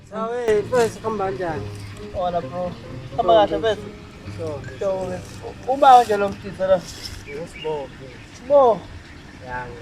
Sawe, mfethu kuhamba kanjani? Wala bro. Hamba kahle mfethu. So, Sure. Uba nje lo mfisa la. ngiyosibophe. Bo. Yangi.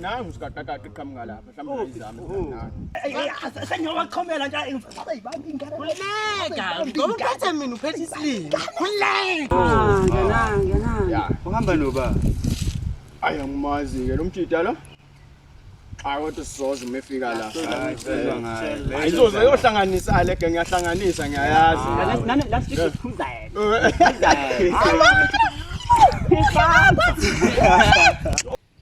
nangu sikaqaqaqa iqhamuka lapha mhlawumbe izami sengiyowaxhomela nje ngomuphethe mina uphethe isilimi khululeka uhamba noba ayi angimazi-ke lo mjida lo Cha kodwa sizoza uma efika la. Ayizoze yohlanganisa ale ke ngiyahlanganisa ngiyayazi. Nani la sifike sikhumza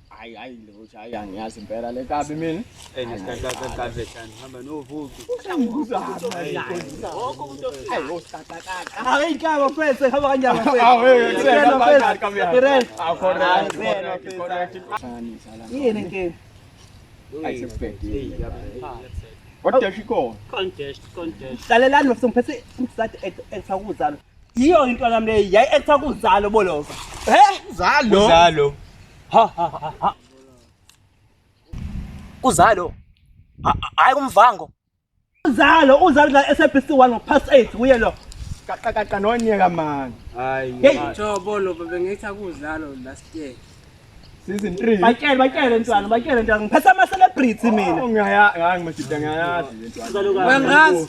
Hayi hayi lutho hayi angiyazi impela le kabi mina. Hey, ngiyazi kahle kahle kahle hamba novuki. hlalelani bafisa ngiphethe umsati ektha kuzalo yiyo into nami leyi yayi ektha kuzalo bolova he zalo zalo ha ha ha Kuzalo. Hayi kumvango. Uzalo uzalo la SABC 1 ngo past 8 kuye lo. Kaqa kaqa nonyeka man. Hayi. Hey jobo lo bebengithi akuzalo last year. Season 3. Batshele batshele ntwana batshele ntwana ngiphethe ama celebrity mina. Oh, Ngiyaya ngangimashida ngiyayazi le ntwana. Wengazi.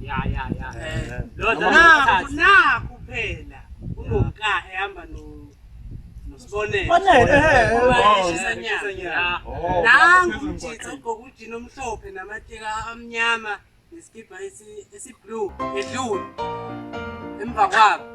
ya ya ya eh lodwa naku naku phela unoka ehamba no nosibonele bonele eheshisanyana nangu mjitha ugqoka ujini omhlophe namateka amnyama nesikibha esi blue edlule emva kwabo